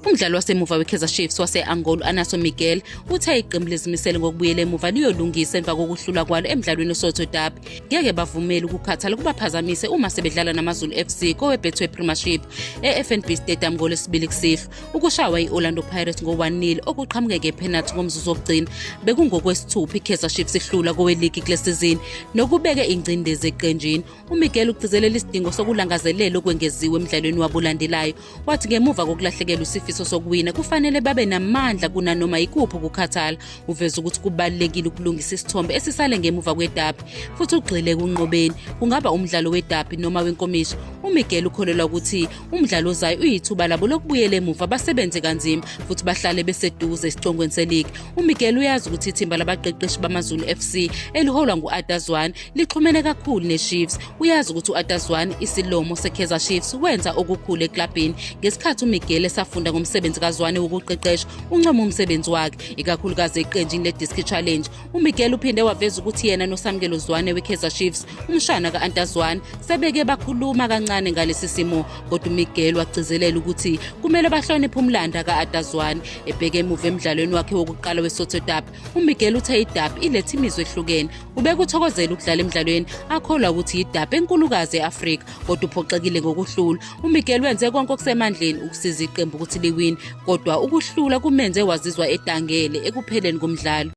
Umdlali wasemuva weKaizer Chiefs wase-Angola Anaso Miguel uthe iqembu lizimisele ngokubuyela emuva liyolungisa emva kokuhlula kwalo emdlalweni oSoto Derby. Ngeke bavumele ukukhathala kubaphazamise uma sebedlala naMaZulu FC koweBetway Premiership eFNB Stadium ngolesibili kusihlwa. Ukushawa i-Orlando Pirates ngo-1-0 okuqhamuke ngephenathi ngomzuzu wokugcina bekungokwesithupha iKaizer Chiefs ihlula koweligi kule sizini nokubeke ingcindezi eqenjini. UMiguel ugcizelela isidingo sokulangazelela okwengeziwe emdlalweni wabulandelayo Wathi ngemuva kokulahlekelwa isifiso sokuwina kufanele babe namandla kunanoma yikuphi ukukhathala. Uveze ukuthi kubalulekile ukulungisa isithombe esisale ngemuva kwedabi futhi ugxile ekunqobeni. Kungaba umdlalo wedabi noma wenkomishi. UMiguel ukholelwa ukuthi umdlalo ozayo uyithuba labo lokubuyela emuva basebenze kanzima futhi bahlale beseduze esicongweni seligi. UMiguel uyazi ukuthi ithimba labaqeqeshi bamaZulu FC eliholwa ngu-Adazwane lixhumene kakhulu neChiefs. Uyazi ukuthi uAtaswan isilomo seKaizer Chiefs wenza okukhulu eklabhini. Ngesikhathi uMiguel esafunda ngomsebenzi kaZwane wokuqeqesha, uncoma umsebenzi wakhe, ikakhulukazi eqenjini leDiski Challenge. UMiguel uphinde waveza ukuthi yena noSamkelo Zwane weKaizer Chiefs, umshana kaAntazwan, sebeke bakhuluma kancane ngalesi simo, kodwa uMiguel wagcizelela ukuthi kumele bahloniphe umlanda kaAtazwan ebheke emuva emdlalweni wakhe wokuqala weSotho Derby UMiguel uthe iDAP iletha imizwa ehlukene. Ubekuthokozela ukudlala emdlalweni, akholwa ukuthi yiDAP enkulukazi e-Afrika, kodwa uphoxekile ngokuhlula. UMiguel wenze konke okusemandleni ukusiza iqembu ukuthi liwine, kodwa ukuhlula kumenze wazizwa edangele ekupheleni komdlalo.